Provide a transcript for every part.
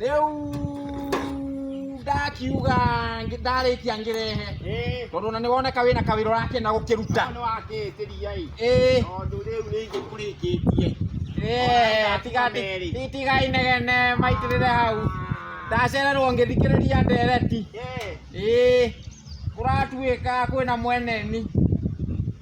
rĩu ndakiuga ngĩ- ndarĩkia ngĩrehe Eh, tondũ ona nĩ woneka wĩna kawĩra ũrakĩenda gũkĩruta nĩ wakĩĩtĩria ĩ. ĩĩ Tondũ rĩu nĩ ithe kũrĩkĩtie. ĩĩ, tiga- Merĩ. ti- tiga inegene maitĩrĩre hau ndacererwo ngĩthikĩrĩria ndereti Eh, ĩĩ kũratuĩka kwĩna mweneni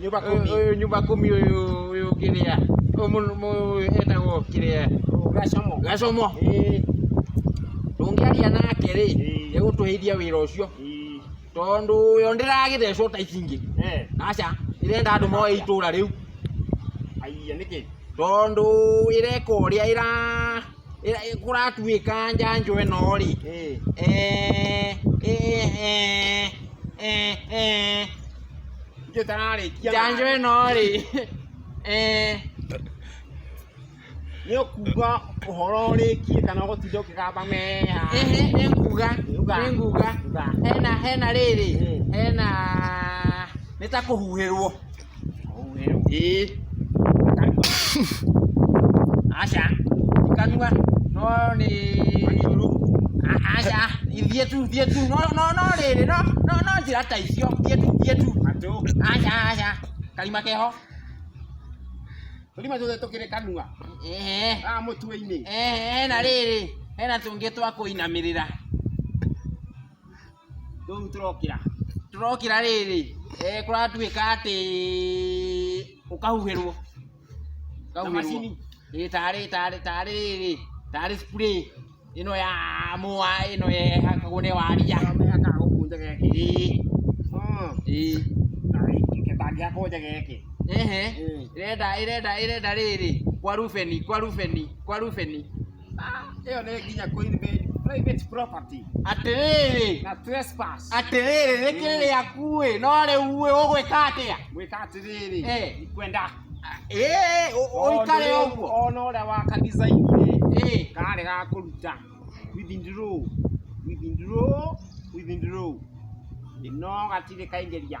nyũmba kũmi ũyũ nyũmba kũmi ũyũ ũyũ kĩrĩa ũyũ etagwo kĩrĩa gacomo gacomo ndũngĩaria nake rĩ egũtũhĩithia wĩra ũcio tondũ yo ndĩragĩthecwo ta ici ingĩ aca ĩrenda andũ moe itũra rĩu tondũ ĩreka ũrĩa ĩra kũratuĩka njanjo ĩno rĩ, njanjo ĩno rĩ, nĩ ũkuga ũhoro ũrĩkie kana ũgũtinda ũkĩgamba mee haha? Ĩhĩ nĩ nguga, nĩ nguga, hena rĩrĩ, hena, nĩ ta kũhuhĩrwo. Aca ikanua no rĩ aca ithiĩ tu thiĩ tu no no no rĩrĩ no no no njĩra ta icio thiĩ tu thiĩ tu aca aca karima keho Tũrima tuothe tũkĩrĩ kanua. Ehe. Ah, mũtwe-inĩ. Ehe, hena rĩrĩ, hena tũngĩ twa kũinamĩrĩra. rĩu tũrokĩra tũrokĩra rĩrĩ eh, kũratuĩka atĩ ũkahuhĩrwo Na macini? Ĩ, tarĩ tarĩ tarĩ rĩrĩ tarĩ spray ĩno ya mũa ĩno yehakagwo nĩ waria mehakaga gũkũ nja geke Ĩ, Mm. ĩ. kangĩakwo nja geke Ehe. Ĩ. Irenda irenda irenda rĩrĩ kwa Rubeni kwa Rubeni kwa Rubeni Hiyo nĩ nginya ku invade private property atĩrĩrĩ na trespass. atĩrĩrĩ rĩkĩrĩ rĩaku ĩ no rĩu ĩ ũgwĩka atĩa Gwĩka atĩrĩrĩ, Eh. ni kwenda Ĩ, ũ- ũikare Ona ũguo ũrĩa- ona ũrĩa waka design rĩ, Ĩ, karĩ ga kũruta withdraw withdraw withdraw ĩno gatirĩ kaingĩria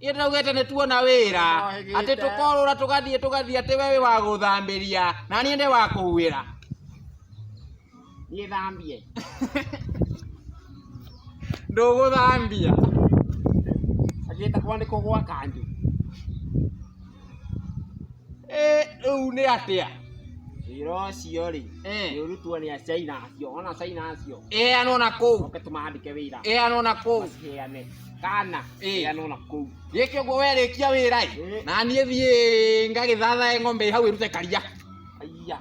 Ithe tũraugĩte nĩ tuona wĩra Twahĩgĩte. atĩ tũkorũra tũgathiĩ tũgathiĩ atĩ we wĩ wa gũthambĩria na niĩ nĩ wa kũhuĩra niĩ thambie ndũgũthambia agĩta kwa nĩ kũgwa kanjũ Ĩ, rĩu nĩ atĩa wĩra ũcio rĩ Eh. nĩ ũrutwo nĩ acaina acio ona acaina acio ĩheanwo na kũu oke tũmandĩke wĩra ĩheanwo na kũu maciheane kana Ĩĩ. ĩrĩa nona kũu gĩkĩ ũguo werĩkia wĩra ĩ Ĩĩ. na niĩ thiĩ ngagĩthathae ng'ombe ĩ hau ĩrute karia aiya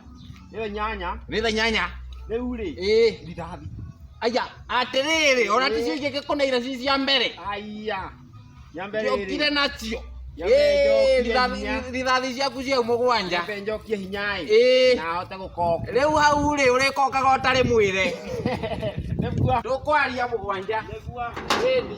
ĩyo nyanya rĩtha nyanya rĩu rĩ ĩĩ ndirathi aya atĩrĩrĩ ona Ĩĩ. ticio ingĩgĩkũneire ci cia mbere aiya nyambe rĩrĩ ciokire nacio Ĩĩ, rithathi- rithathi ciaku ciau mũgwanja njokie hinya ĩ Ĩĩ. na ahote gũkoka rĩu hau rĩ ũrĩkokaga ũtarĩ mwĩre nĩguo tũkwaria mũgwanja nĩguo Ĩĩ.